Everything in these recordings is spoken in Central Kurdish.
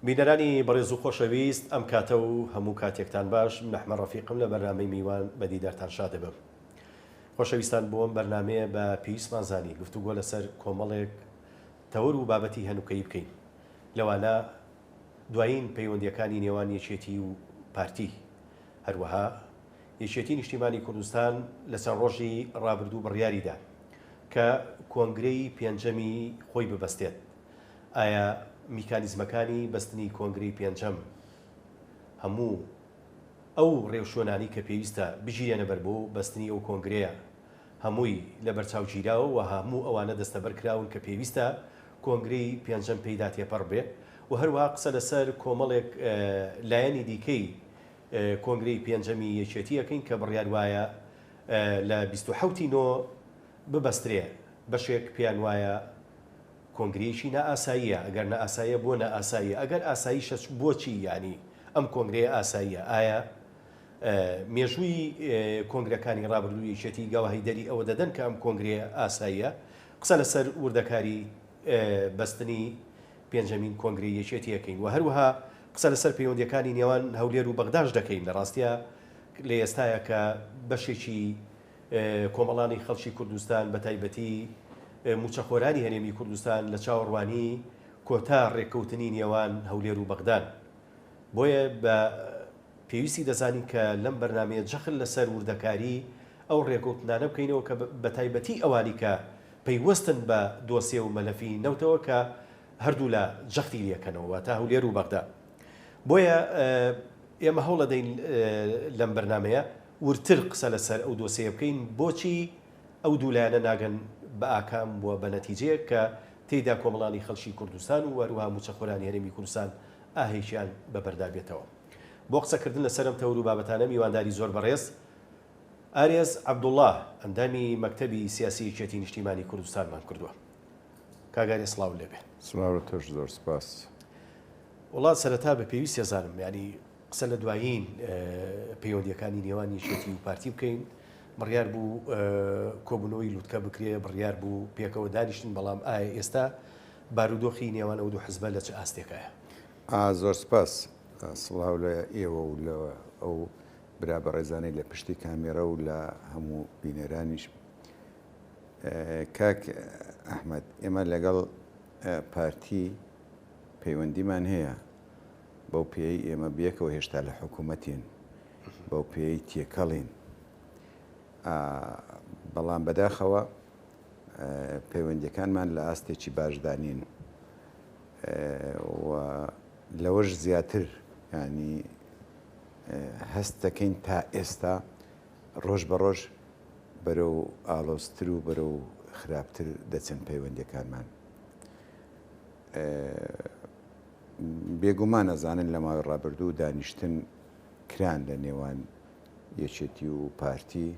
بینەرانی بەڕێز و خۆشەویست ئەم کاتە و هەموو کاتێکتان باش من ئەحمە ڕەفیقم لە بەرنامەی میوان بە دیدارتان شادەبم خۆشەویستان بۆم بەرنمەیە بە پێویستمان زانی گفتوگۆ لەسەر کۆمەڵێک تەور و بابەتی هەنوکەی بکەین لەوانە دوایین پەیوەندییەکانی نێوان یەکێتی و پارتی. هەروەها یەکێتی نیشتیمانی کوردستان لەسەر ڕۆژی ڕابردوو بڕیاریدا کە کۆنگرەی پێنجەمی خۆی ببەستێت. ئایا میکانیزمەکانی بەستنی کۆنگرەی پێنجەم هەموو ئەو ڕێوشوێنانەی کە پێویستە بگیرێنەبەر بۆ بەستنی ئەو کۆنگرەیە هەمووی لەبەرچاو گیراوە و هەموو ئەوانە دەستەبەر کراون کە پێویستە کۆنگرەی پێنجەم پێیدا تێپەڕ بێ و هەروەها قسە لەسەر کۆمەڵێک لایەنی دیکەی کۆنگرەی پێنجەمی یەکێتی ئەکەین کە بڕیار وایە لە بیست و حەوت ی نۆ ببەسترێ بەشێک پێیان وایە کۆنگرەیەکی نائاساییە ئەگەر نائاساییە بۆ نائاساییە ئەگەر ئاساییشە بۆچی یانی ئەم کۆنگرەیە ئاساییە ئایا مێژووی کۆنگرەکانی ڕابردوو یەکێتی گەواهیدەری ئەوە دەدەن کە ئەم کۆنگرەیە ئاساییە. قسە لەسەر وردەکاری بەستنی پێنجەمین کۆنگرەی یەکێتی ئەکەین و هەروەها قسە لەسەر پەیوەندییەکانی نێوان هەولێر و بەغداش دەکەین، لە ڕاستیا لە ئێستایا کە بەشێکی کۆمەڵانی خەڵکی کوردستان بە تایبەتی مووچەخۆرانی هەرێمی کوردستان لە چاوەڕوانی کۆتا ڕێککەوتنی نێوان هەولێر و بەغدان. بۆیە بە پێویستی دەزانین کە لەم بەرنامەیە جەخت لەسەر وردەکاریی ئەو رێکەوتنانە بکەینەوە کە بە تایبەتی ئەوانی کە پەیوەستن بە دۆسێ و مەلەفی نەوتەوە کە هەردوولا جەختی لێکەنەوە واتە هەولێر و بەغدا بۆیە ئێمە هەوڵەدەین لەم بەرنامەیە وردتر قسە لەسەر ئەو دۆسێیە بکەین بۆچی ئەو دوو لایەنە ناگەن بە ئاکام و بە نەتیجەیەک کە تێیدا کۆمەڵانی خەڵکی کوردستان و هەروەها مووچەخۆرانی هەرێمی کوردستان ئاهێکیان بە بەردا بێتەوە. بۆ قسە کردن لە سەر ئەم تەوەر و بابەتانە میوانداری زۆر بەڕێز ئارێز عەبدوڵا ئەندامی مەکتەبی سیاسی یەکێتی نیشتیمانی کوردستانمان کردووە. کاک ئارێز سڵاوت لێ بێ. سڵاو لە تۆش زۆر سپاس. وەڵا سەرەتا بە پێویستیەزانم یانی. قسە لە دوایین پەیوەندییەکانی نێوان یەکێتی و پارتی بکەین، بڕیار بوو کۆبوونەوەی لوتکە بکرێ، بڕیار بوو پێکەوە دانیشن، بەڵام ئایا ئێستا بارودۆخی نێوان ئەو دوو حزبە لە چ ئاستێکایە؟ زۆر سپاس، سڵاو لە ئێوە و لە ئەو برا بەڕێزانەی لە پشتی کامێرە و لە هەموو بینەرانیش. کاک ئەحمەد، ئێمە لەگەڵ پارتی پەیوەندیمان هەیە، بەو پێیەی ئێمە بەیەکەوە هێشتا لە حکوومەتین، بەو پێیەی تێکەڵین. بەڵام بەداخەوە پەیوەندیەکانمان لە ئاستێکی باشدانین و لەوەش زیاتر ینی هەست دەکەین تا ئێستا ڕۆژ بە ڕۆژ بەرە و ئالۆزتر و بەرە و خراپتر دەچن پەیوەندیەکانمان. بێگومان ئەزانن لە ماوەی ڕابردوو دانیشتن کران لە نێوان یەکێتی و پارتی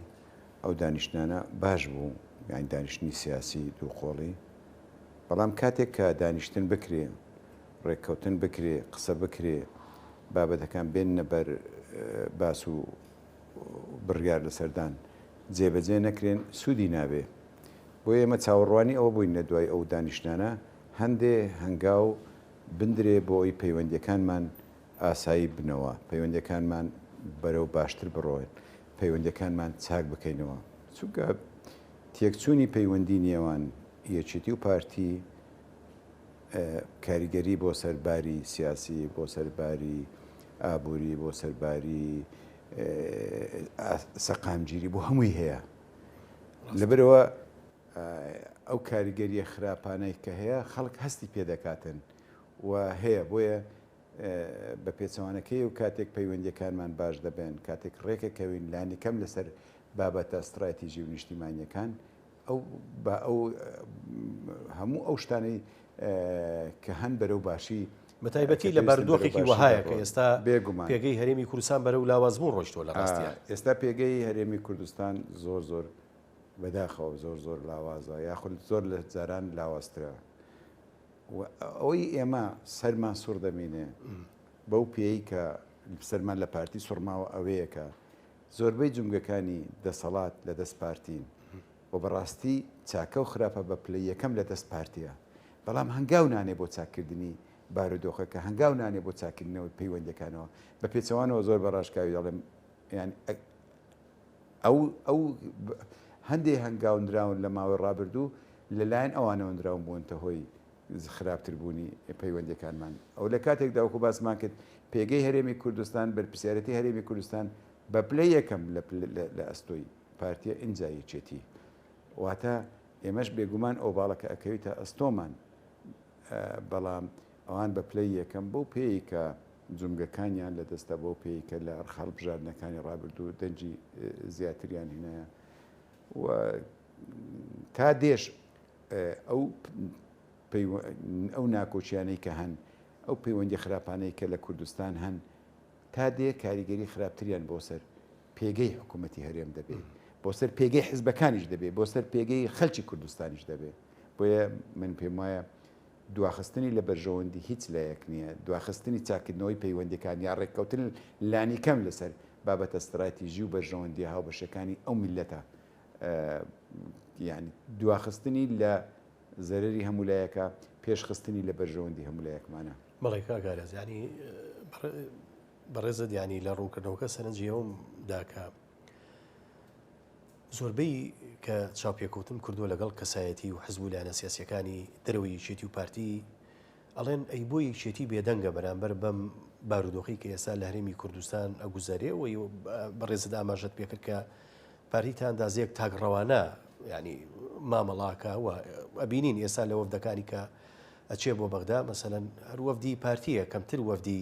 ئەو دانیشتانە باش بوو یان دانیشتنی سیاسی دووقۆڵی بەڵام کاتێک کە دانیشتن بکرێ ڕێککەوتن بکرێ قسە بکرێ بابەتەکان بێن نەبەر باس و بڕیار لە سەردان جێبەجێ نەکرێن سوودی نابێ بۆ ئێمە چاوەڕوانی ئەوە بووین لە دوای ئەو دانیشتانە هەندێ هەنگاو بندرێ بۆ ئەوی پەیوەندیەکانمان ئاسایی بنەوە، پەیوەندیەکانمان بەرەو باشتر بڕۆێن، پەیوەندیەکانمان چاک بکەینەوە، چونکە تێکچوونی پەیوەندی نێوان یەکێتی و پارتی کاریگەری بۆ سەر باری سیاسی، بۆ سەر باری ئابووری، بۆ سەر باری سەقامگیری بۆ هەمووی هەیە لەبەرەوە. ئەو کاریگەریە خراپانەی کە هەیە خەڵک هەستی پێ دەکاتن و هەیە بۆیە بە پێچەوانەکەی و کاتێک پەیوەندیەکانمان باش دەبێن کاتێک ڕێکەکەوین لانیکەم لەسەر بابەتە ستڕاتیژی و نیشتیمانیەکان ئەو بە ئەو هەموو ئەو شتانەی کە هەن بەرەو باشی بەتایبەتی لە بارودۆخێکی وەهایە کە ئێستا بێگومان پێگەی هەرێمی کوردستان بەرەو لاوازبوون ڕۆشتوە لە ڕاستیا ئێستا پێگەی هەرێمی کوردستان زۆر زۆر بەداخەوە زۆر زۆر لاوازە یاخود زۆر لە جاران لاوازترە و ئەوەی ئێمە سەرمان سوڕ دەمینێ بەو پێی کە سەرمان لە پارتی سوڕماوە ئەوەیەکە زۆربەی جمگەکانی دەسەڵات لە دەست پارتین و بەڕاستی چاکە و خراپە بە پلە یەکەم لە دەست پارتیە بەڵام هەنگاو نانێ بۆ چاککردنی بارودۆخە کە هەنگاو نانێ بۆ چاکردنەوەی پەیوەندەکانەوە بە پێچەوانەوە زۆر بە ڕاشکاوی دەڵێم یان ئەو ئەو هەندێ هەنگاو نراون لە ماوەی ڕابردوو لەلایەن ئەوانەوە نراون بوونتە هۆی خراپتر بوونی پەیوەندیەکانمان ئەو لە کاتێک داوکو باسمان کرد پێگەی هەرێمی کوردستان بەرپسیارەتی هەرێمی کوردستان بە پلە یەکەم لە ئەستۆی پارتیە ئینجا یەکێتی واتە ئێمەش بێگومان ئەو باڵەکە ئەکەویتە ئەستۆمان بەڵام ئەوان بە پلەی یەکەم بۆ پێیکە جومگەکانیان لەدەستدا بەو پێی کە لە ئەرخ هەڵبژاردنەکانی ڕابردوو دەنگی زیاتریان هێنایە و تا دێش ئەو ئەو ناکۆچیانەی کە هەن ئەو پەیوەندی خراپانەی کە لە کوردستان هەن تا دێ کاریگەری خراپتریان بۆ سەر پێگەی حکوومەتتی هەرێم دەبێت بۆ سەر پێگەی حزبەکانیش دەبێت بۆ سەر پێگەی خەلکی کوردستانیش دەبێت بۆیە من پێم وایە دواخستنی لە بەرژەوەندی هیچ لایەک نییە، دواخستنی چاککردنەوەی پەیوەندییەکان یا ڕێککەوتن لانیکەم لەسەر بابەتە ستراتیژی و بەرژەوەندییە هاوبەشەکانی ئەو میللەتە، یانی دواخستنی لە زەرەری هەموو لایەکە، پێشخستنی لە بەرژەوەندی هەموو لایەکمانە. بەڵێ کاک ئاراس، یانی بەڕێزت یانی لە ڕوونکردنەوەکە سەرنجی ئەوم دا کە، زۆربەی کە چاوپێکەوتم کردووە لەگەڵ کەسایەتی و حزب و لایەنە سیاسیەکانی دەرەوەی یەکێتی و پارتی ئەڵێن ئەی بۆ یەکێتی بێدەنگە بەرامبەر بەم بارودۆخی کە ئێستا لە هەرێمی کوردستان ئەگوزارێ و بەڕێزت ئاماژەت پێکرد کە پارتیتە ئەندازەیەک تاک ڕەوانە ینی مامەڵاکە و ئەبینین ئێستا لە وەفدەکانی کە ئەچێ بۆ بەغدا مەسەەن هەر وەفدی پارتیە کەمتر وەفدی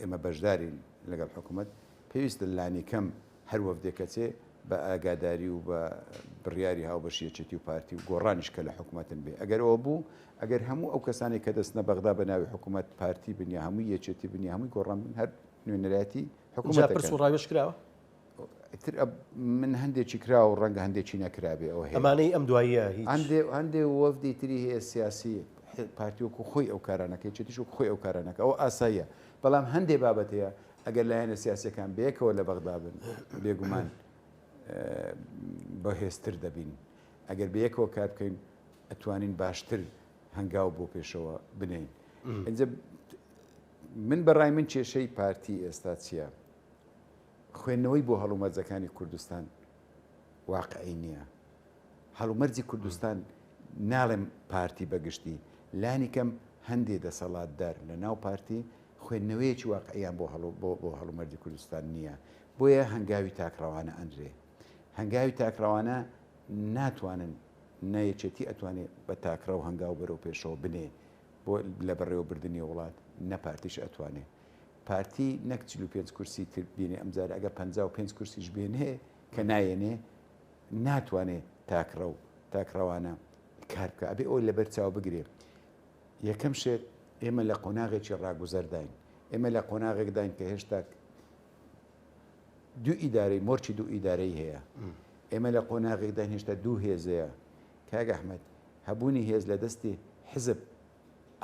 ئێمە بەشدارین لەگەڵ حکومەت، پێویستە لانیکەم هەر وەفدێک کە چێ بە ئاگاداری و بە بڕیاری هاوبەشی یەکێتی و پارتی و گۆڕانیش کە لە حکومەتن بێ. ئەگەر ئەوە بوو، ئەگەر هەموو ئەو کەسانەی کە دەچنە بەغدا بە ناوی حکومەت پارتی بن یا هەمووی یەکێتی بن یا هەمووی گۆڕان بن هەر نوێنەرایەتی حکومەت دەکەن. جا پرس و ڕاوێژ کراوە؟ ئیتر ئەب من هەندێکی کرا و ڕەنگە هەندێکی نەکرابێ ئەو هەیە ئەمانەی ئەم دواییە هیچ هەندێ هەندێ وەفدی تری هەیە سیاسی ح- پارتی وەکو خۆی ئەو کارانەکەی چێتیش وەکو خۆی ئەو کارانەکە ئەو ئاساییە بەڵام هەندێ بابەت هەیە ئەگەر لایەنە سیاسیەکان بەیەکەوە لە بەغدا بن بێگومان بەهێزتر دەبین ئەگەر بەیەکەوە کار بکەین ئەتوانین باشتر هەنگاو بۆ پێشەوە بنێین ئینجا من بەڕای من کێشەی پارتی ئێستا چییە؟ خوێندنەوەی بۆ هەڵومەرجەکانی کوردستان واقعی نییە. هەڵومەرجی کوردستان ناڵێم پارتی بە گشتی، لانی کەم هەندێ دەسەڵاتدار لە ناو پارتی خوێندنەوەیەکی واقعییان بۆ بۆ هەڵومەرجی کوردستان نییە. بۆیە هەنگاوی تاکڕەوانە ئەنرێ. هەنگاوی تاکڕەوانە ناتوانن نە یەکێتی ئەتوانێ بە تاکڕەو هەنگاو بەرەو پێشەوە بنێ بۆ لە بەڕێوەبردنی وڵات، نە پارتیش ئەتوانێ. پارتی نەک چل و پێنج کورسی تر بێنێ ئەمجارە ئەگەر پەنجا و پێنج کورسیش بێنێ کە نایەنێ ناتوانێ تاکڕەو تاکڕەوانە کار بکە ئەبێ ئەوی لەبەر چاو بگرێ یەکەم شێت ئێمە لە قۆناغێکی ڕاگوزەرداین ئێمە لە قۆناغێکداین کە هێشتا دوو ئیدارەی مۆرچی دوو ئیدارەی هەیە ئێمە لە قۆناغێکدا هێشتا دوو هێزەیە کاگە ئەحمد هەبوونی هێز لە دەستی حزب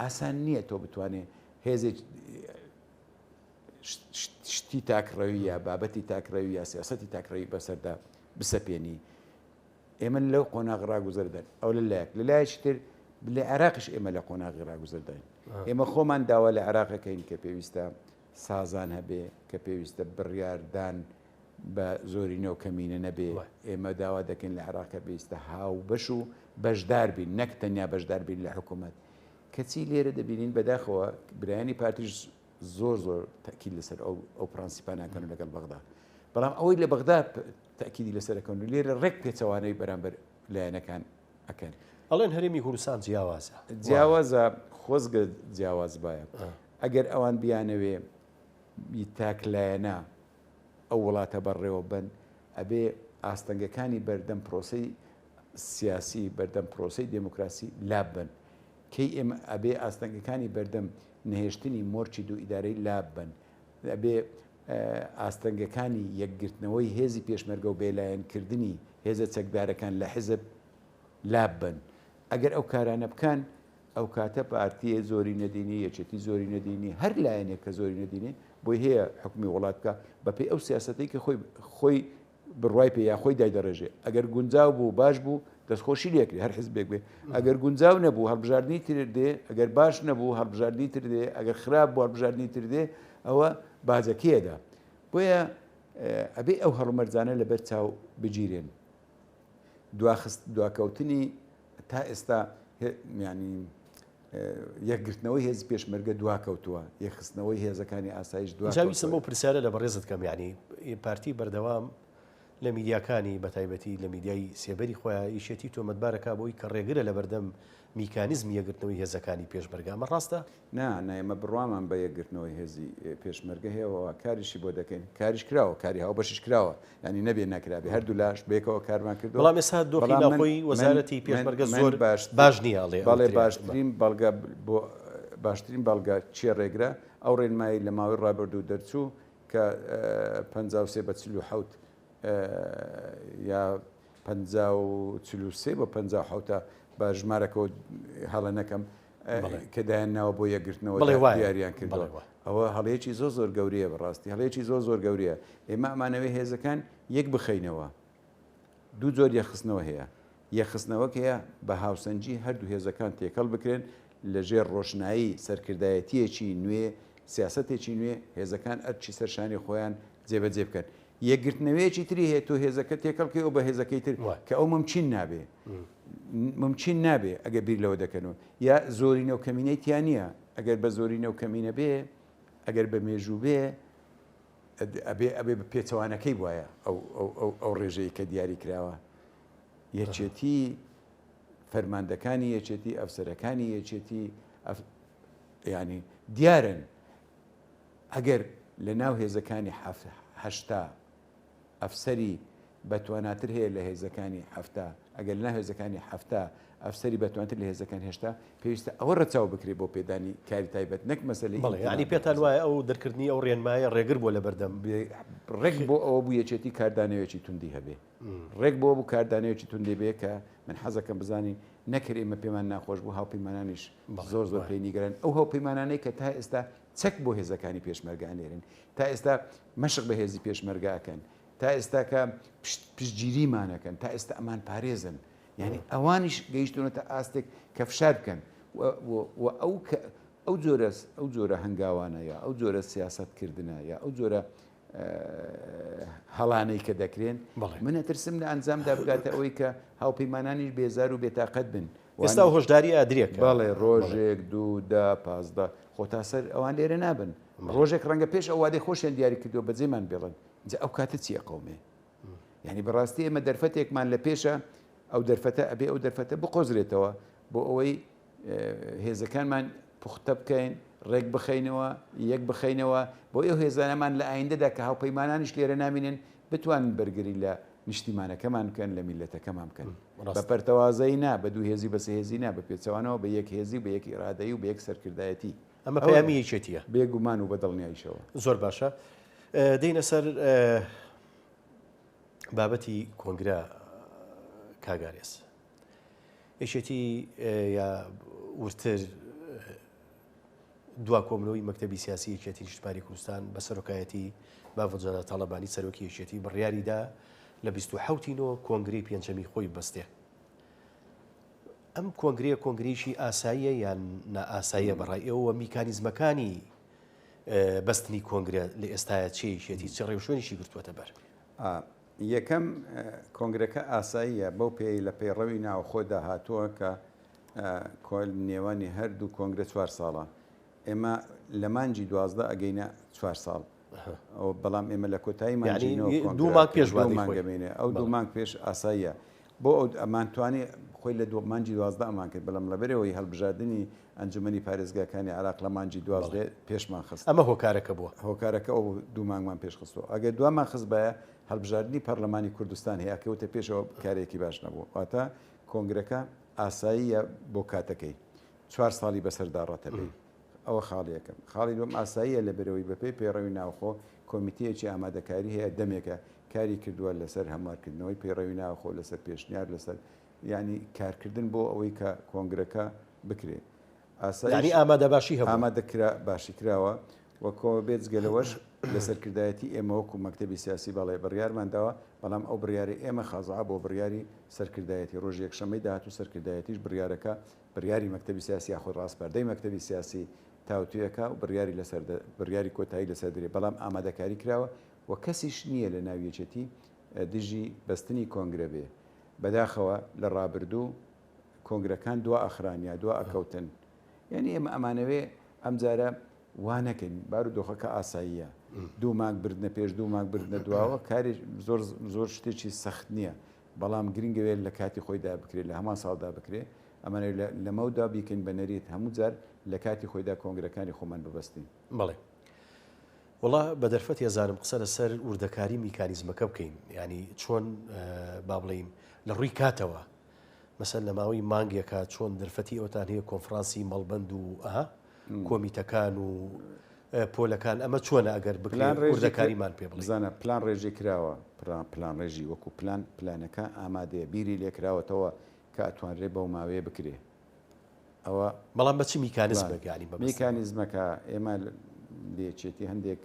ئاسان نییە تۆ بتوانێ هێزێک شتی تاکڕەوی یا بابەتی تاکڕەوی یا سیاستی تاکڕەوی بەسەردا بسەپێنی ئێمە لەو قۆناغ ڕاگوزەردن ئەو لە لایەک لە لایەکی تر لە عێراقش ئێمە لە قۆناغی ڕاگوزەرداین ئێمە خۆمان داوا لە عێراقەکەین کە پێویستە سازان هەبێ کە پێویستە بڕیار دان بە زۆرینە و کەمینە نەبێ، ئێمە داوا دەکەین لە عێراق کە پێویستە هاوبەش و بەشدار بین نەک تەنیا بەشدار بین لە حکوومەت، کەچی لێرە دەبینین بەداخەوە برایانی پارتیش زۆر زۆر تەئکید لەسەر ئەو ئەو پرەنسیپە ناکەن و لەگەڵ بەغدا، بەڵام ئەوەی لە بەغدا تەئکیدی لەسەر ئەکەن و لێرە ڕێک پێچەوانەی بەرامبەر لایەنەکان ئەکەن. ئەڵێن هەرێمی هورسان جیاوازە. جیاوازە خۆزگە جیاواز بایە. ئەگەر ئەوان بیانەوێ ی تاک لایەنە ئەو وڵاتە بەڕێوە بەن ئەبێ ئاستەنگەکانی بەردەم پرۆسەی سیاسی بەردەم پرۆسەی دێمۆکراسی لاب بەن کەی ئێمە ئەبێ ئاستەنگەکانی بەردەم نەهێشتنی مۆرچی دوو ئیدارەی لاب بەن ئەبێ ئاستەنگەکانی یەکگرتنەوەی هێزی پێشمەرگە و بێلایەن کردنی هێزە چەکدارەکان لە حیزب لاب بەن ئەگەر ئەو کارانە بکەن ئەو کاتە پارتیە زۆرینە دینی، یەکێتی زۆرینە دینی، هەر لایەنێک کە زۆرینە دینی بۆی هەیە حوکمی وڵات بکا بەپێی ئەو سیاسەتەی کە خۆی خۆی بڕوای پێ یا خۆی دایدەڕێژێ ئەگەر گونجاو بوو باش بوو دەستخۆشی لێکرێ هەر حزبێک بێ ئەگەر گونجاو نەبوو هەڵبژاردنی تر دێ ئەگەر باش نەبوو هەڵبژاردنی تر دێ ئەگەر خراپ بوو هەڵبژاردنی تر دێ ئەوە باجەکەیەدا بۆیە ئەبێ ئەو هەڵمەرجانە لەبەر چاو بگیرێن دواخست دواکەوتنی تا ئێستا میانی یەکگرتنەوەی هێزی پێشمەرگە دوا کەوتووە یەخستنەوەی هێزەکانی ئاسایش دواویسم بۆ پرسیارە لە بەڕێزت کەم یعنی پارتی بەردەوام لە میدیاکانی بەتایبەتی لە میدیای سێبەری خۆیان یشێتی تۆمەتبارەکە بۆی کە ڕێگرە لە بەردەم میکانیزمی یەکگرتنەوەی هێزەکانی پێشمەرگە، ئەمە ڕاستە؟ نا، نا، ئێمە بڕوامان بە یەکگرتنەوەی هێزی پێشمەرگە هەیە و کاریشی بۆ دەکەین، کاریش کراوە، کاری هاوبەشیش کراوە، یانی نەبێ نەکرابێ، هەردوولاش بەیەکەوە کارمان کردووە. بەڵام ئێستا دۆخی ناوخۆی وەزارەتی پێشمەرگە زۆر باش نییە، ئەڵێ ئەو ترێنە. باشترین بەڵگە بۆ، باشترین بەڵگە چییە ڕێگرە؟ ئەو ڕێنمایی لە ماوەی ڕابردوو دەرچوو کە پەنجا و سێ بە چل و حەوت یا، پەنجا و چل و سێ بۆ پەنجا و حەوتە بە ژمارەکە هەڵە نەکەم کە دایان ناوە بۆ یەکگرتنەوە دیاریان کردەوە ئەوە هەڵەیەکی زۆ زۆر گەورەیە بەڕاستی هەڵەیەکی زۆ زۆر گەورەیە ئێمە ئەمانەوەی هێزەکان یەک بخەینەوە دوو جۆر یەخستنەوە هەیە یەخستنەوەک هەیە بە هاوسەنجی هەردوو هێزەکان تێکەڵ بکرێن لە ژێر ڕۆشنایی سەرکردایەتییەکی نوێ، سیاسەتێکی نوێ، هێزەکان ئەرکی سەر شانی خۆیان جێبەجێ بکەن. یەکگرتنەوەیەکی تری هەیە، تۆ هێزەکە تێکەڵ کەی و بە هێزەکەی تر، کە ئەو مومکین نابێ. مومکین نابێ ئەگەر بیر لەوە دەکەنەوە. یا زۆرینە و کەمینەی تیا نییە. ئەگەر بە زۆرینە و کەمینە بێ، ئەگەر بە مێژوو بێ، ئەبێ ئەبێ بە پێچەوانەکەی بوایە ئەو ئەو ئەو ئەو ڕێژەی کە دیاری کراوە. یەکێتی فەرماندەکانی یەکێتی ئەفسەرەکانی یەکێتی ینی دیارن ئەگەر لە ناو هێزەکانی هەشتا ئەفسری بەتواناتر هەیە لە هێزەکانی هەفتا ئەگەر لە هێزەکانی هەفتا ئەفسری بەتوانتر لە هێزەکان هێشتا پێویستە ئەوە ڕەچاو بکرێت بۆ پێدانی کاری تایبەت نەک مەسلی ینی پێتان وایە ئەو دەرکردنی ئەو ڕێنمایە ڕێگر بۆ لە بەردەم ڕێک بۆ ئەوە بوو یەکێتی کاردانەوەیەکی توندی هەبێ ڕێک بەوە بوو کاردانەوەیەکی توندی بێ کە من حەزەکەم بزانی نەکر ئێمە پێمان ناخۆش بوو هاوپەیمانانیش زۆر زۆر پێی نیگەران ئەو هاوپەیمانانەی کە تا ئێستا چەک بۆ هێزەکانی پێشمەرگە ئەنێرن تا ئێستا مەشق بە هێزی پێشمەرگە ئەکەن تا ئێستاکە پشتگیریمانەکەن تا ئێستا ئەمان پارێزن یعنی ئەوانیش گەیشتونەتە ئاستێک کە فشار بکەن و ئەو ئەو جۆرە ئەو جۆرە هەنگاوانە یا ئەو جۆرە سیاست کردنە یا ئەو جۆرە هەڵانەی کە دەکرێن من ئەترسم لە ئەنجامدا بگاتە ئەوەی کە هاوپەیمانانیش بێزار و بێتاقەت بن ئێستا و هۆشداری ئادرێک بەڵێ ڕۆژێک دوو دا پازدە خۆ تا سەر ئەوان لێرە نابن ڕۆژێک ڕەنگە پێش ئەو وادەی خۆشیان دیاری کردووە بەجێمان بێڵن جا ئەو کاتە چیە قومێ یعنی بەڕاستی ئێمە دەرفەتێکمان لە پێشە ئەو دەرفەتە ئەبێ ئەو دەرفەتە بقۆزرێتەوە بۆ ئەوەی هێزەکانمان پوختە بکەین، ڕێک بخەینەوە، یەک بخەینەوە، بۆ ئەو هێزانەمان لە ئایندەدا کە هاوپەیمانانیش لێرە نامینن بتوانن بەرگری لە نیشتیمانەکەمان بکەن، لە میللەتەکەمان بکەن. بە پەرتەوازەیی نا، بە دوو هێزی و بە سێ هێزی نا، بە پێچەوانەوە بە یەک هێزی و بە یەک ئیرادەیی و بە یەک سەرکردایەتی. ئەمە پەیامی یەکێتییە. بێ گومان و بە دڵنیاییشەوە. زۆر باشە. دێینە سەر بابەتی کۆنگرە کاک ئارێز. یەکێتی یا وردتر دوا کۆبنەوەی مەکتەبی سیاسی یەکێتی نیشتمانی کوردستان بە سەرۆکایەتی مافجەدا تاڵەبانی سەرۆکی یەکێتی بڕیاریدا لە 27 نۆ کۆنگری پێنجەمی خۆی بەستێ ئەم کۆنگریە کۆنگریشی ئاساییە یان نائاساییە بەڕای ئێوە میکانیزمەکانی بەستنی کۆنگرە لە ئێستاە چێشێتی چ ڕێوشوێنیشی گرتووەتە بەر یەکەم، کۆنگرەکە ئاساییە، بەو پێیەی لە پەیڕەوی ناوەخۆدا هاتووە کە کۆل نێوانی هەردوو کۆنگرە چوار ساڵە، ئێمە لە مانگی دوازدە ئەگەینە چوار ساڵ، بەڵام ئێمە لە کۆتایی مانگی نۆ کۆنگرە دوو مانگ پێش وادەی خۆی دەمێنێ، ئەو دوو مانگ پێش ئاساییە بۆ ئەو ئەمانتوانی خۆی لە مانگی دوازدە ئەمان کرد، بەڵام لەبەرئەوەی هەڵبژاردنی ئەنجومەنی پارێزگاکانی عێراق لە مانگی دوازدە پێشمان خست. ئەمە هۆکارەکە بووە؟ هۆکارەکە ئەو بوو دوو مانگمان پێش خستووە. ئەگەر دوامان خستبایە، هەڵبژاردنی پەرلەمانی کوردستان هەیە، ئەکەوتە پێش ئەوە کارێکی باش نەبوو. واتە کۆنگرەکە ئاساییە بۆ کاتەکەی. چوار ساڵی بەسەردا ڕەتەبێت. ئەوە خاڵی یەکەم. خاڵی دووەم ئاساییە لەبەرئەوەی بەپێی پەیڕەوی ناوخۆ کۆمیتەیەکی ئامادەکاری هەیە دەمێکە کاری کردووە لەسەر هەموارکردنەوەی پەیڕەوی ناوخۆ، لەسەر پێشنیار، لەسەر یانی کارکردن بۆ ئەوەی کە کۆنگرەکە بکرێت ئاسایش ئامادەکرا باشی کراوە و بێجگە لەوەش لە سەرکردایەتی ئێمە وەکو مەکتتەبی سیاسی بەڵێ بڕیارمان داوە بەڵام ئەو بڕیاری ئێمە خازا بۆ بڕیاری سەرکردایەتی ڕۆژ یەکشەمەی داهات و سەرکردایەتیش بڕیارەکە بڕیاری مەکتتەبی سیاسی یاخود ڕاستپەردەی مەکتتەبی سیاسی تاوتوێکە و بڕیاری لەسەر بڕیاری کۆتایی لەسەر درێ بەڵام ئامادەکاری کراوە و کەسیش نییە لە ناویەکێتی دژی بەستنی کۆنگرە بێ بەداخەوە لە ڕابردوو کۆنگرەکان دوا ئەخران یا دوا ئەکەوتن یانی ئێمە ئەمانەوێ ئەم جارە وا نەکەین بارو دۆخەکە ئاساییە دوو مانگ بردنە پێش دوو مانگ بردنە دواوە کاری زۆر زۆر شتێکی سەخت نییە بەڵام گرنگەوێت لە کاتی خۆیدا بکرێت لە هەمان ساڵدا بکرێت ئەمانەوێت لەمەودا بیکەین بە نەریت هەموو جار لە کاتی خۆیدا کۆنگرەکانی خۆمان ببەستین بەڵێ وەڵا بە دەرفەتی ئەزانم قسە لەسەر وردەکاری میکانیزمەکە بکەین ینی چۆن با بڵین لە ڕووی کاتەوە مەسەر لە ماوەی مانگێکە چۆن دەرفەتی ئەوتان هەیە کۆنفرانسی مەڵبند و ئەها کۆمیتەکان و پۆلەکان ئەمە چۆنە ئەگەر بگلان ڕێژەکاریمان پێ بزانە پلان ڕێژی کراوە پلان ڕێژی وەکو پلان پلانەکە ئامادەیە بیری لێکراوەتەوە کە ئەتوانرێ بەو ماوەیە بکرێ ئەوە بەڵام بە چ میکانزمێک یانی بە میکانزمەکە ئێمە لە یەکێتی هەندێک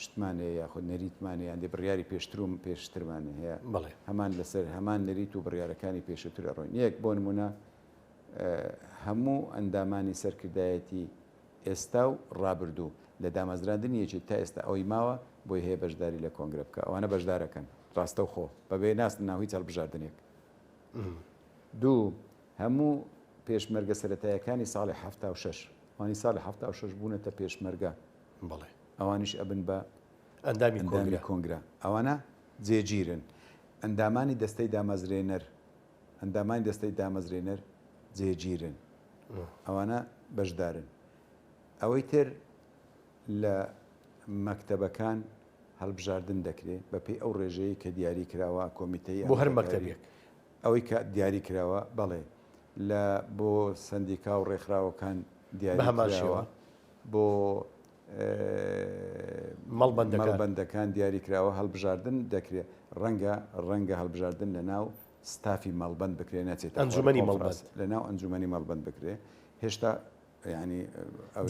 شتمان هەیە یاخود نەریتمان هەیە هەندێک بڕیاری پێشتروم پێشترمان هەیە بڵێ هەمان لەسەر هەمان نەریت و بڕیارەکانی پێشتر ئەڕۆین یەک بۆ نمونە هەموو ئەندامانی سەرکردایەتی ئێستا و ڕابردوو لە دامەزراندنی یەکێت تا ئێستا ئەوەی ماوە بۆی هەیە بەشداری لە کۆنگرە بکە ئەوانە بەشدارەکەن ڕاستەوخۆ بەبێ ناست ناوی هەڵبژاردنێک دوو هەموو پێشمەرگە سەرەتایەکانی ساڵی حەفتا و شەش ئەوانی ساڵی حەفتا و شەش بوونەتە پێشمەرگە بەڵێ ئەوانیش ئەبن بە ئەندامی ئەندامی کۆنگرە کۆنگرە ئەوانە جێگیرن ئەندامانی دەستەی دامەزرێنەر ئەندامانی دەستەی دامەزرێنەر جێگیرن ئەوانە بەشدارن ئەوەی تر لە مەکتەبەکان هەڵبژاردن دەکرێت بەپێی ئەو ڕێژەیە کە دیاری کراوە کۆمیتەی بۆ هەر ئەمریکایی. مەکتەبێک ئەوەی کە دیاری کراوە، بەڵێ، لە بۆ سەندیکا و ڕێکخراوەکان دیاری کراوە، بۆ مەڵبەندەکان دیاری کراوە، هەڵبژاردن دەکرێ، ڕەنگە ڕەنگە هەڵبژاردن لە ناو ستافی مەڵبەند بکرێ نەچێتە ئەنجومەنی مەڵبەست، لە ناو ئەنجومەنی مەڵبەند بکرێ، هێشتا یانی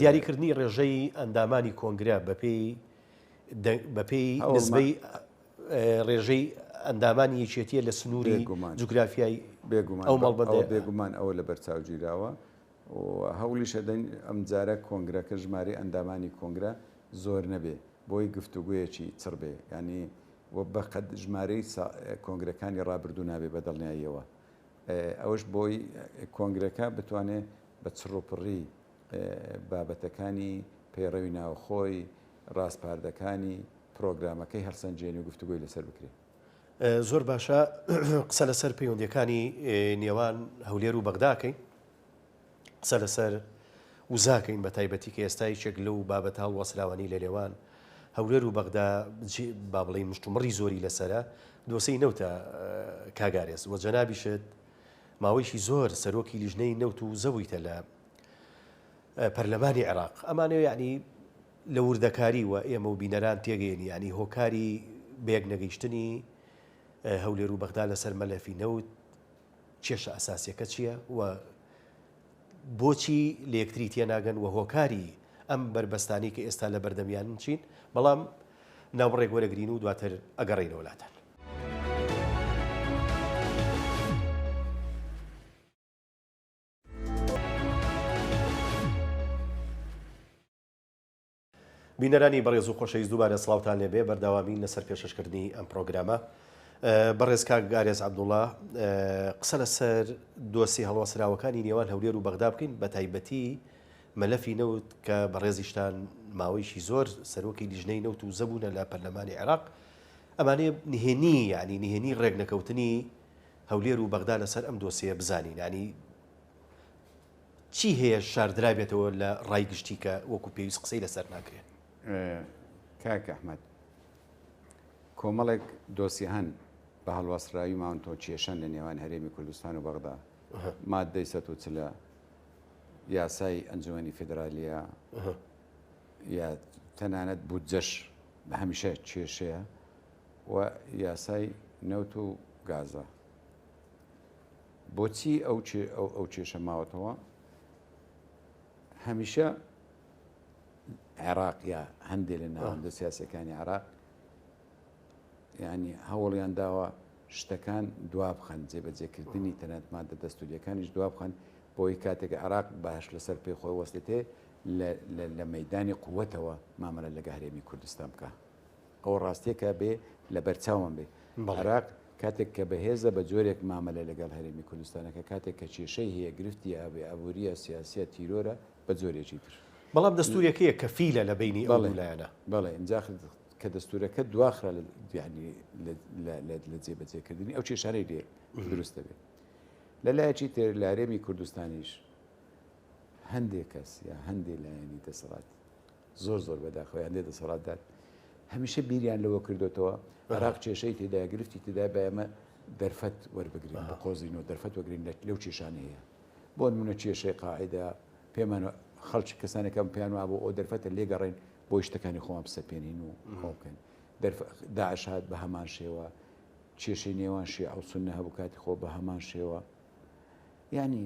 دیاریکردنی ڕێژەی ئەندامانی کۆنگرە بەپێی بەپێی نسبەی ڕێژەی ئەندامانی یەکێتییە لە سنووری جوگرافیای ئەو مەڵبەندە. بێگومان ئەوە لەبەرچاو گیراوە و هەوڵیش ئەدەین ئەمجارە کۆنگرەکە ژمارەی ئەندامانی کۆنگرە زۆر نەبێ بۆی گفتوگۆیەکی چڕ بێ، یانی وە بە قەد ژمارەی کۆنگرەکانی ڕابردوو نابێ بە دڵنیاییەوە. ئەوەش بۆی کۆنگرەکە بتوانێ بە چڕوپڕی. بابەتەکانی پەیڕەوی ناوخۆی ڕاسپاردەکانی پرۆگرامەکەی هەڵسەنجێنی و گفتوگۆی لەسەر بکرێ. زۆر باشە قسە لەسەر پەیوەندیەکانی نێوان هەولێر و بەغداکەین قسە لەسەر وزاکەین بە تایبەتی کە ئێستا یەکێک لەو بابەت هەڵوەسراوانی لە نێوان هەولێر و بەغدا با بڵێ مشتومڕی زۆری لەسرە دۆسەی نەوتە کاگارێز وە جەنابیشت ماوەیشی زۆر سەرۆکی لیژنەی نەوت و زەویتە لە پەرلەمانی عێراق ئەمانە یعنی لە وردەکاری و ئێمە و بینەران تێگەین یعنی هۆکاری بەیەک نەگەیشتنی هەولێر و بەغدا لەسەر مەلەفی نەوت کێشە ئەساسیەکە چییە و بۆچی لە یەکتری تێناگەن و هۆکاری ئەم بەربەستانی کە ئێستا لە بەردەمیان چین بەڵام ناوبڕێک وەرەگرین و دواتر ئەگەڕین وڵاتان بینەرانی بەڕێز و خۆشەویست دووبارە سڵاوتان لێبێ بەرداوامین لەسەر پێشەشکردنی ئەم پرۆگرامە بەڕێز کاک گارێز عبدوڵا قسە لەسەر دۆسی هەڵوەسراوەکانی نێوان هەولێر و بەغدا بکەین بە تایبەتی مەلەفی نەوت کە بەڕێزیشتان ماوەیشی زۆر سەرۆکی لیژنەی نەوت و زەبوونە لە پەرلەمانی عێراق ئەمانێ نهێنی ینی نهێنی ڕێکنەکەوتنی هەولێر و بەغدا لەسەر ئەم دۆسێیە بزانین یانی چی هەیە شاردرابێتەوە لە ڕای گشتی کە وەکو پێویست قسەی لەسەر ناکرێت کاک ئەحمد کۆمەڵێک دۆسی هەن بە هەڵوەسراوی ماونتۆ کێشەن لە نێوان هەرێمی کوردستان و بەغدا مادەی سە و چلە یاسای ئەنجومی فیدراالیە یا تەنانەت بودجەش بە هەمیشە کێشەیە و یاسای نەوت و گازە. بۆچی ئەو کێشە ماوەتەوە؟ هەمیشە عێراق یا هەندێک لە ناوەندە سیاسەکانی عێراق ینی هەوڵیان داوە شتەکان دوابخەن جێبەجێکردنی تەنەت مادە دەستوریەکانیش دوابخەن بۆی کاتێک عراق باش لەسەر پێ خۆی وەستێتێ لە مەدانی قوتەوە مامەلە لە گەهرێمی کوردستان بکە. ئەوە ڕاستیەکە بێ لەبەرچاومان بێ عێراق کاتێک کە بەهێزە بە جۆرێک مامەلە لەگەڵ هەرێمی کوردستانەکە کاتێک کە کێشەی هەیە گرفتی ئابێ ئابووریە سیاسیە تیرۆرە بە جۆرێکی تر بەڵام دەستورەکەیە کە فیلە لە بینی ئەو دوو لایەنە بەڵێ ئینجا کە دەستورەکە دواخرا لە جێبەجێکردنی ئەو کێشانەی لێ دروست دەبێت لە لایەکی تر لە هەرێمی کوردستانیش هەندێک کەس یا هەندێک لایەنی دەسەڵات زۆر زۆر بەداخەوە یان دێتە سەڵاتدان هەمیشە بیریان لەوە کردوتەوە عراق کێشەی تێدا گرفتی تێدا بە ئێمە دەرفەت وەربگرین بە قۆزینەوە دەرفەت وەگرین لەو کێشانە هەیە بۆ نمونە کێشەی قاعدا پێمان خەڵکی کەسانەکەم پێیان وابوو ئەو دەرفەتە لێگەڕێن بۆ شتەکانی خۆم سەپێنین و خۆکەن داعش هات بە هەمان شێوە کێشەی نێوان شێ ئەو سنە هەبوو کاتی خۆ بە هەمان شێوە ینی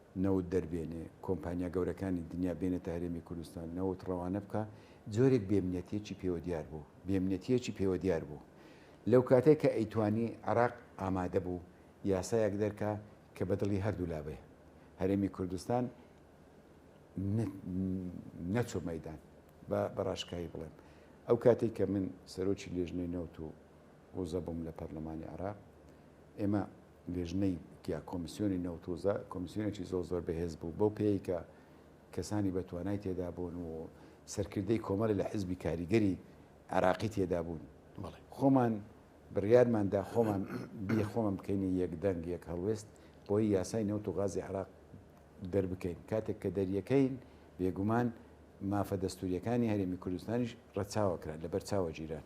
نەوت دەربێنێ، کۆمپانیا گەورەکانی دنیا بێنێتە هەرێمی کوردستان، نەوت ڕەوانە بکا، جۆرێک بێمنەتیەکی پێوە دیار بوو، بێمنەتیەکی پێوە دیار بوو. لەو کاتەی کە ئەیتوانی عێراق ئامادە بوو یاسایەک دەرکا کە بە دڵی هەردوو لا بێ، هەرێمی کوردستان نەچۆ مەیدان، با بە ڕاشکاوی بڵێم ئەو کاتەی کە من سەرۆکی لێژنەی نەوت و وزە بووم لە پەرلەمانی عێراق، ئێمە، لیژنەی تیا کۆمیسیۆنی نەوت و زە کۆمیسیۆنێکی زۆر زۆر بەهێز بوو بەو پێی کە کەسانی بە توانای تێدا بوون و سەرکردەی کۆمەڵی لە حزبی کاریگەری عراقی تێدا بوون خۆمان بڕیارماندا خۆمان بی خۆمان بکەینە یەک دەنگ یەک هەڵوێست بۆی یاسای نەوت و غازی عراق دەربکەین کاتێک کە دەریەکەین بێگومان مافە دەستوریەکانی هەرێمی کوردستانیش ڕەچاوەکران لە بەرچاوە گیران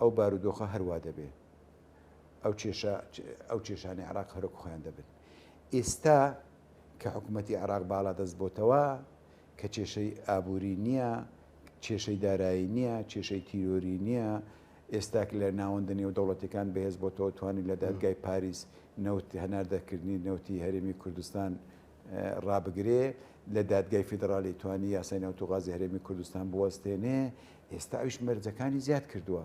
ئەو بارودۆخە هەر وا دەبێ، ئەو کێشە ئەو کێشانەی عێراق هەرۆک خۆیان دەبن. ئیستا کە حکوومەتی عێراق باڵا دەست بۆتەوە، کە کێشەی ئابووری نییە، کێشەی دارایی نییە، کێشەی تیرۆری نییە، ئێستاک لە ناوەندە نێودەوڵەتیەکان بەهێز بۆتەوە توانی لە دادگای پاریس نەوت هەناردەکردنی نەوتی هەرێمی کوردستان ڕابگرێ لە دادگای فیدڕالی توانی یاسای نەوتو غازی هەرێمی کوردستان بوەستێنێ ئێستا ئەویش مەرجەکانی زیاد کردووە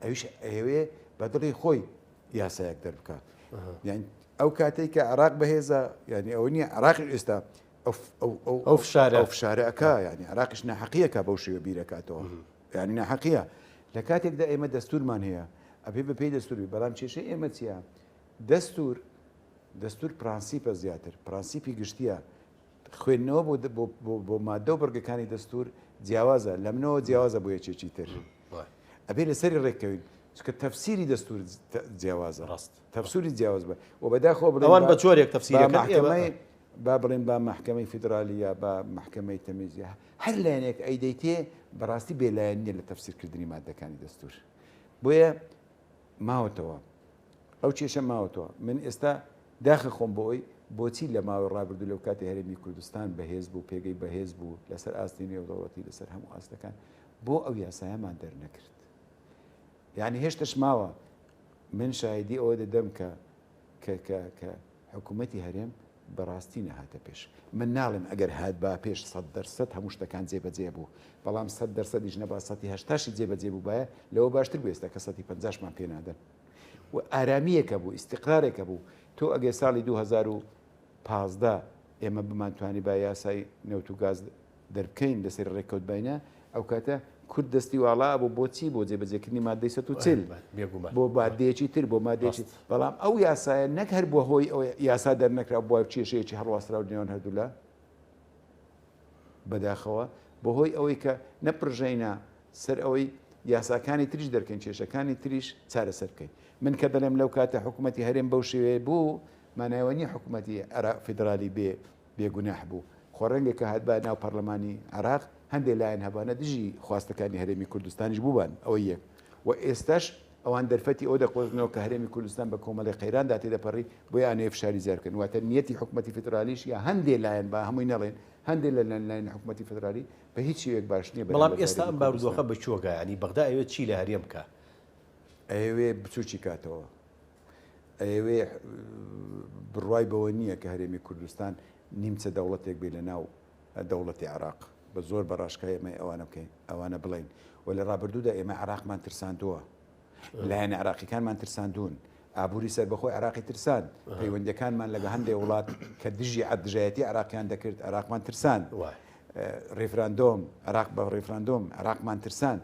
ئەویش ئەوێ بە دڵی خۆی یاسایەک دەربکات یعنی ئەو کاتێک کە عراق بەهێزە ینی ئەو نیە عراقی ئێستا ئەو فشارە فشارەکە ینی عراقش ناحقیەکە بەو شێوە بیرەکاتەوە ینی ناحقیە لە کاتێکدا ئێمە دەستورمان هەیە ئەبێ بەپی دەستوری بەڵام کێشەی ئێمە چیە دەستور دەستوور پرەنسیپە زیاتر، پرەنسیپی گشتییە. خوێندنەوە بۆ بۆ بۆ بۆ ماددە و بڕگەکانی دەستوور جیاوازە، لەمنەوە جیاوازە بۆ یەکێکی تر. ئەبێ لەسەری ڕێک کەوین. چونکە تەفسیری دەستوور جیاوازە. ڕاست. تەفسیری جیاواز بە و بەداخەوە بڵێن ئەوان بە جۆرێک تەفسیرەکەن ئێمە بە مەحکەمەی با بڵێن با مەحکەمەی فیدرالی یا با مەحکەمەی تەمیز یا هەر لایەنێک ئەیدەیتێ بەڕاستی بێلایەن نییە لە تەفسیرکردنی ماددەکانی دەستوور. بۆیە ماوەتەوە ئەو کێشە ماوەتەوە من ئێستا داخە خۆم بۆ ئەوی بۆچی لە ماوەی ڕابردوو لەو کاتی هەرێمی کوردستان بەهێز بوو پێگەی بەهێز بوو لەسەر ئاستی نێودەوڵەتی لەسەر هەموو ئاستەکان بۆ ئەو یاسایەمان دەرنەکرد یعنی هێشتش ماوە من شایدی ئەوە دەدەم کە کە کە کە حکومەتی هەرێم بەڕاستی نەهاتە پێش، من ناڵێم ئەگەر هاتبا پێش سەد دەر سەد هەموو شتەکان جێ بەجێ ئەبوو، بەڵام سەد دەر سەدیش نەبا سەتی هەشتاشی جێ بەجێ بووبایە لەوە باشتر بوو ئێستا کە سەتی پەنجاشمان پێ نادەن و ئارامییەک ئەبوو ئیستیقرارێک ئەبوو تۆ ئەگەر ساڵی دوو هەزار و پازدە ئێمە بمانتوانیبا یاسای نەوت و گاز دەربکەین لەسەر رێککەوت باینە ئەوکاتە کورد دەستی واڵا ئەبوو بۆ چی بۆ جێبەجێکردنی مادەی سەد و چل بۆ بادەیەکی تر بۆ مادەیەکی بەڵام ئەو یاسایە نەک هەر بووە هۆی ئەو یاسا دەرنەکرا بووە کێشەیەکی هەڵواسراو نێوان هەردوولا بەداخەوە بۆ هۆی ئەوەی کە نەپڕژەینە سەر ئەوەی یاساکانی تریش دەرکەین کێشەکانی تریش چارەسەر بکەین من کە دەڵێم لەو کاتە حکوومەتتی هەرێم بەو شێوەیە بوو مانایوە نیە حکوومەتتی عێرا فیدرالی بێ بێ گوناح بوو. خۆ ڕەنگە کە هاتبایە ناو پەڕلەمانی عێراق، هەندێ لایەن هەبانە دژی خواستەکانی هەرێمی کوردستانیش بووبان. ئەوە یەک. و ئێستاش ئەوان دەرفەتی ئەوە دەقۆزنەوە کە هەرێمی کوردستان بە کۆمەڵێ قەیراندا تێدەپەڕی، بۆیە ئانەیە فشاری زیاد بکەن. واتە نیەتی حکومەتی فیدڕالیش یا هەندێ لایەن، با هەمووی نەڵێین، هەندێ لە لایەنی حکومەتی فیدڕالی بە هیچ شێوەیەک باش نیە بەرامبەر بە هەرێمی کوردستان. بەڵام ئێستا ئەم بارودۆخە بە چۆکە، یانی بەغدا ئەیەوێ چی لە هەرێم بکا؟ ئەیەوێ بچووکی کاتەوە. ئەیەوێ بڕوای بەوە نییە کە هەرێمی کوردستان نیمچە دەوڵەتێک بێ لە ناو دەوڵەتی عراق بە زۆر بە ڕاشکای ئەمە ئەوانە بکەین ئەوانە بڵین و لە ڕابردوودا ئێمە عراقمان ترساندووە لایەن عراقیەکانمان ترساندون ئابووری سربەخۆی عراقی ترسان پەیوەندەکانمان لەگە هەندێک وڵات کە دژی عدژایەتی عراقیان دەکرد عراقمان ترسان ڕیفراندۆم عراق بە ڕیفراندۆم عراقمان ترسان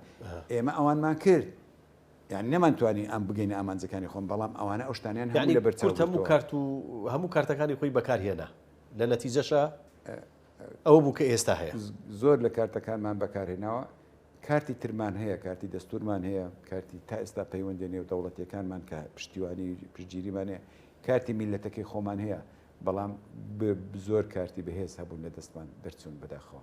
ئێمە ئەوانمان کرد یانی نەمان توانی ئەم بگەینە ئامانجەکانی خۆم بەڵام ئەوانە ئەو شتانیان هەموو لەبەر چاو گرتووە. یانی کورد هەموو کارت و هەموو کارتەکانی خۆی بەکار هێنا لە نەتیجەشا ئەوە بوو کە ئێستا هەیە. زۆر لە کارتەکانمان بەکار هێناوە، کارتی ترمان هەیە، کارتی دەستوورمان هەیە، کارتی تا ئێستا پەیوەندیە نێودەوڵەتیەکانمان کە پشتیوانی و پشتگیریمان هەیە، کارتی میللەتەکەی خۆمان هەیە، بەڵام زۆر کارتی بەهێز هەبوون لە دەستمان دەرچوون بەداخەوە.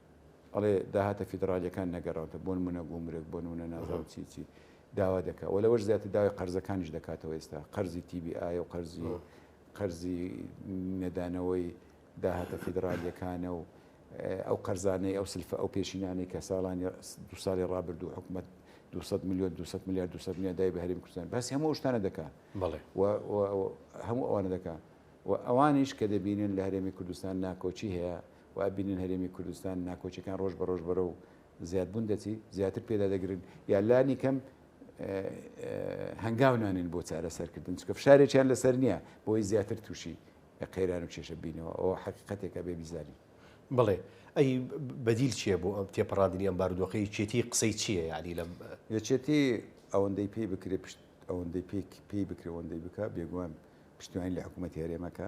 ئەڵێ داهاتە فیدڕالیەکان نەگەڕاوتە بۆنمونە گومرگ بۆنمونە نازانم چی چی داوا دەکا وە لەوەش زیاتر داوای قەرزەکانیش دەکاتەوە ئێستا قەرزی تیبی ئایە و قەرزی قەرزی نەدانەوەی داهاتە فیدڕالیەکانە و ئەو قەرزانەی ئەو سلفە ئەو پێشینانەی کە ساڵانی دو ساڵی ڕابرد و حکومت 200 میلیۆن 200 میلیارد 200 میلیارد دای بە هەرێم کوردستان بەس هەموو شتانە دەکا هەموو ئەوانە دەکا و ئەوانیش کە دەبینن لە هەرێمی کوردستان ناکۆکی هەیە وای بینن هەرێمی کوردستان ناکۆکیەکان ڕۆژ بە ڕۆژ بەرەو زیاد بوون دەچی زیاتر پێدا دەگرن یا لانی کەم هەنگاو نانێن بۆ چارە سەرکردن چکە فشارێکیان لەسەر نییە بۆی زیاتر تووشی قەیران و کێشە بینەوە ئەو حقیقەتێکە بێ بیزاری بڵێ ئەی بەدیل چییە بۆ ئەم تێپەڕاندنی ئەم بارودۆخی چێتی قسەی چییە یالی لەم یەچێتی ئەوەندەی پێی بکرێ پشت ئەوەندەی پێی پێی بکرێ ئەوەندەی بکە بێگومان پشتیوانی لە حکوومەتی هەرێمەکە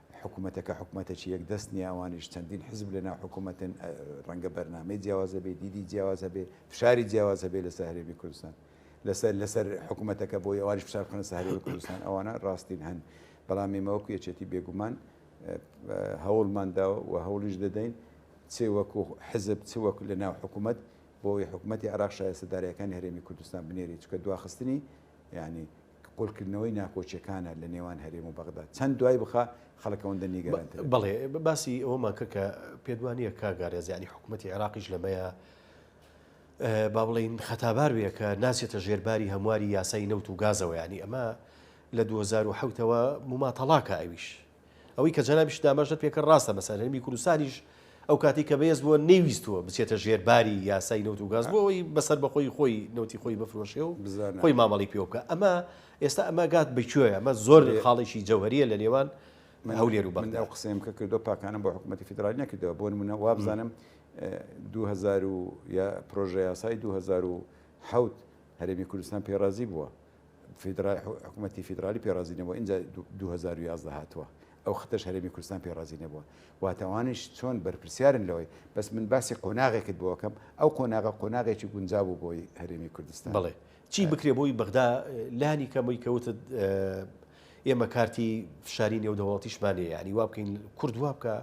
حکومەتەکە حکومەتەکی یەک دەست نیە ئەوانیش چەندین حزب لەناو حکومەتن ڕەنگە بەرنامەی جیاواز هەبێ دیدی جیاواز هەبێ فشاری جیاواز هەبێ لەسەر هەرێمی کوردستان لەسەر لەسەر حکومەتەکە بۆ ئەوانیش فشار بخەنە سەر هەرێمی کوردستان ئەوانە ڕاستین هەن بەڵام ئێمە وەکو یەکێتی بێگومان هەوڵمان داوە و هەوڵیش دەدەین چ وەکو حزب چ وەکو لەناو حکومەت بۆ ئەوی حکومەتی عراق شایستەدارەکانی هەرێمی کوردستان بنێری چکە دواخستنی یعنی کە قۆلکردنەوەی ناکۆکیەکانە لە نێوان هەرێم و بەغدا چەند دوای بخا خەڵک ئەوەندە نیگەرانترە. بەڵێ باسی ئەوەمان کە کە پێدوانیە کا گارێز یعنی حکوومەتی عێراقیش لەمەیە با بڵین خەتابار بێ کە ناسێتە ژێرباری هەمواری یاسای نەوت و گازەوە ینی ئەمە لە 2010ەوە موماتەڵاکە ئەویش ئەوەی کە جەنابیشت داماژەت پێ کرد ڕاستە مەسەن هەرێمی کوردستانیش ئەو کاتی کە بەێز بووە نەیویستووە بچێتە ژێر باری یاسای نەوت و گاز بۆ ئەوی بەسەر بەخۆی خۆی نەوتی خۆی بفرۆشێ و خۆی مامەڵی پێوە بکە ئەمە ئێستا ئەمە گات بکوێ ئەمە زۆر خاڵێکی جەوهریە لە نێوان من هەولێر و بەندا و قسەیم کە کردو پاکانم بۆ حکوومەتتی فیدرالی نەکردەوە بۆ منە وابزانم 2000 پرۆژه یاسای 2000 حوت هەرێمی کوردستان پێڕازی بووە فیدرا حکومەتی فیدرالی پێڕازی نەبووە ئینجا دوو دوو هەزار و یازدە هاتووە ئەو خەتەش هەرێمی کوردستان پێڕازی نەبووە واتە ئەوانیش چۆن بەرپرسیارن لەوەی بەس من باسی قۆناغێکت بۆ ئەکەم ئەو قۆناغە قۆناغێکی گونجا بوو بۆی هەرێمی کوردستان بەڵێ چی بکرێ بۆی بەغدا لانی کەمەوەی کە وتت ئێمە کارتی فشاری نێودەوڵەتیشمان هەیە یانی وا بکەین کورد وا بکە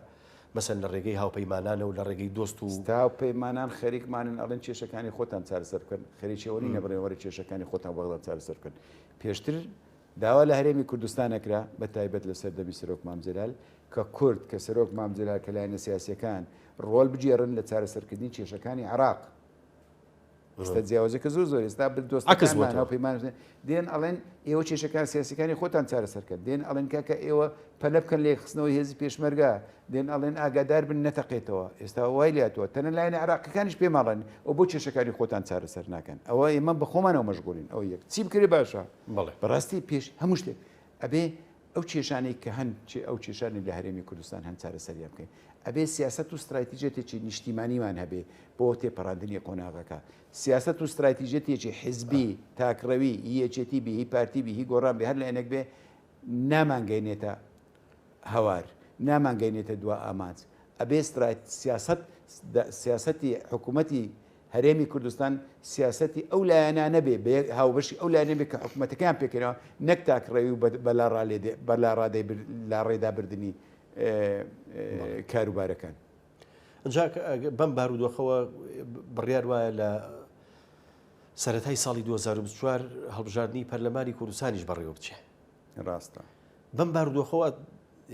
مەسەن لە ڕێگەی هاوپەیمانانە و لە ڕێگەی دۆست و. ستا و پەیمانان خەریکمانن ئەڵێن کێشەکانی خۆتان چارەسەر بکەن، خەریکی ئەوە نین لە بەڕێوەبەرە کێشەکانی خۆتان وەگەڵیان چارەسەر بکەن. پێشتر داوا لە هەرێمی کوردستان ئەکرا، بە تایبەت لە سەردەمی سەرۆک مام جەلال، کە کورد، کە سەرۆک مام جەلال، کە لایەنە سیاسییەکان ڕۆڵ بگێڕن لە چارەسەرکردنی کێشەکانی عێراق. ئێستا جیاوازەکە زۆر زۆر ئێستا دۆستەکانمان هاوپەیمان دێن ئەڵێن ئێوە کێشەکان سیاسەکانی خۆتان چارەسەرکەن دێن ئەڵێن کاکە ئێوە پەلە بکەن لێ خستنەوەی هێزی پێشمەرگا دێن ئەڵێن ئاگادار بن نەتەقێتەوە ئێستا وای لاتوە تەنە لایەن عراقیەکانیش پێماڵێن ئەو بۆ کێشەکانی خۆتان چارەسەر ناکەن ئەوە ئێمە بە خۆمانەوە مەشغولین ئەو یەک چی بکرێ باشە بەڕاستی پێش هەموو شتێک ئەبێ ئەو کێشانەی کە هەن چ ئەو کێشانەی لە هەرێمی کوردستان هەن چارەسەریان بکەین ئەبێ سیاسەت و ستراتیژێتێکی نیشتیمانیمان هەبێ بۆ تێپەڕاندنی قۆناغەکە سیاسەت و ستراتیژێتێکی حزبی تاکڕەوی یەکێتی بی هی پارتی بی هی گۆڕان بێ هەر لایەنێک بێ نامانگەینێتە هەوار نامانگەینێتە دوا ئامانج ئەبێ سیاست سیاستی حکوومەتی هەرێمی کوردستان سیاسەتی ئەو لایەنانە بێ بە یەک هاوبەشی ئەو لایەنە بێ کە حکومەتەکەیان پێکەنەوە نەک تاکڕەوی و بە بە لاڕا لێ دێ بە لاڕادەی بر لاڕێدا بردنی ئێ بەڵێ. ئێ کاروبارەکان. ئنجا کە ئەگ بەم بارودۆخەوە بڕیار وایە لە سەرەتای ساڵی دوو هەزار و بیست و چوار هەڵبژاردنی پەرلەمانی کوردستانیش بەڕێوە بچێ. ڕاستە. بەم بارودۆخەوە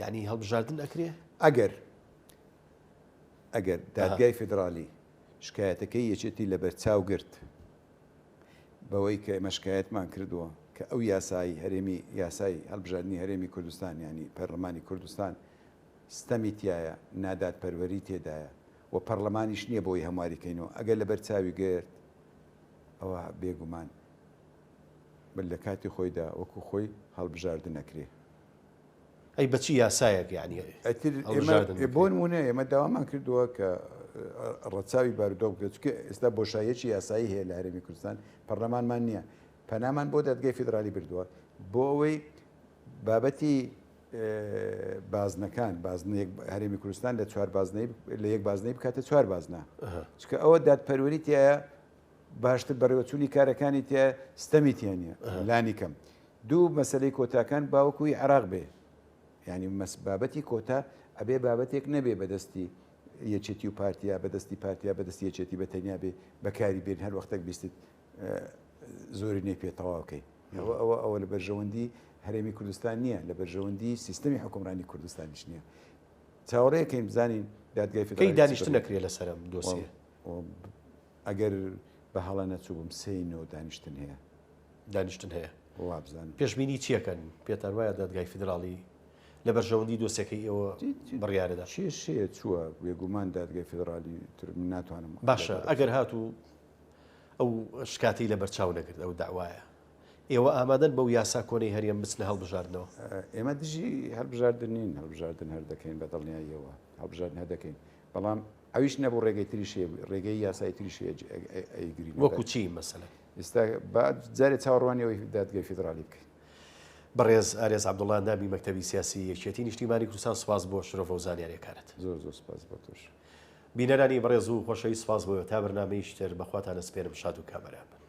یانی هەڵبژاردن ئەکرێ؟ ئەگەر ئەگەر دادگای فیدڕالی شکایەتەکەی یەکێتی لەبەرچاو گرت بەوەی کە ئێمە شکایەتمان کردووە کە ئەو یاسای هەرێمی یاسای هەڵبژاردنی هەرێمی کوردستان ینی پەرلەمانی کوردستان ستەمی تایە نادادپەروەری تێدایە و پەرلەمانیش نییە بۆی هەمواریکەینەوە ئەگەر لەبەر چاوی گرت ئەوە بێگومان بل لە کاتی خۆیدا وەکو خۆی هەڵبژاردنەکرێ ئەی بە چی یاسایەک یانی هەڵبژاردن بکرێت؟ بۆ نموونە ئێمە داوامان کردووە کە ڕەچاوی بارودۆخ بکرێت، چونکە ئێستا بۆشاییەکی یاسایی هەیە لە هەرێمی کوردستان، پەرلەمانمان نییە، پەنامان بۆ دادگای فیدرالی بردووە بۆ ئەوەی بابەتی بازنەکان بازنەیەک هەرێمی کوردستان لە چوار بازنەی لە یەک بازنەی بکاتە چوار بازنە، چونکە ئەوە دادپەروەری تایە باشتر بەڕێوەچوونی کارەکانی تیا ستەمی تیا نییە لانی کەم دوو مەسلەی کۆتاکان باوەکوی عراق بێ ینی مەس بابەتی کۆتا ئەبێ بابەتێک نەبێ بەدەستی یەچێتی و پارتیا بەدەستی پارتیا بەدەستی یەچێتی بە تەنیا بێ بەکاری بێن هەر وەختێک بیستیت زۆری نەی پێ تەواوکەی ئەوە ئەوە ئەوە لە بەرژەوەندی هەرێمی کوردستان نییە لە بەرژەوەندی سیستمی حکومڕانی کوردستانیش نییە چاوەڕێکەین بزانین دادگای فکری دانیشت نەکرێت لەسەرم دۆسیە ئەگەر بە هەڵە نەچووبم سێی نۆ دانیشتن هەیە. دانیشتن هەیە. وابزانم. پێشبینی چیەکەن؟ پێتان وایە دادگای فیدراڵی لە بەرژەوەندی دۆسێکەی ئێوە بڕیارەدا؟ کێشەیە چووە بێگومان دادگای فیدراڵی تر من ناتوانم. باشە ئەگەر هاتوو ئەو شکاتی لە بەرچاو نەگرت ئەو داوایە ئێوە ئامادەن بەو یاسا کۆنەی هەرێم بچنە هەڵبژاردنەوە؟ ئێمە دژی هەڵبژاردن نین هەڵبژاردن هەر دەکەین بە دڵنیاییەوە هەڵبژاردن هەر دەکەین بەڵام ئەویش نەبوو ڕێگەی تریش هەیەبوو ڕێگەی یاسایی تریش ئەیگرین وەکو چی مەسەلە ئێستا با جارێ چاوەڕوانیەوەی دادگەی فیدرالی بکەین بەڕێز ئارێز عبدوڵان دابی مەکتتەبی سیاسی یەکێتی نیشتیمانی کوردستان سپاس بۆ شرۆڤە و زانیاریەکانت زۆر زۆر سپاس بۆ تۆش بینەرانی بەڕێز و خۆشەویست سپاس بۆ تا بەرنامەی شتر بەخواتانە سپێرم شاد و کامەران بن.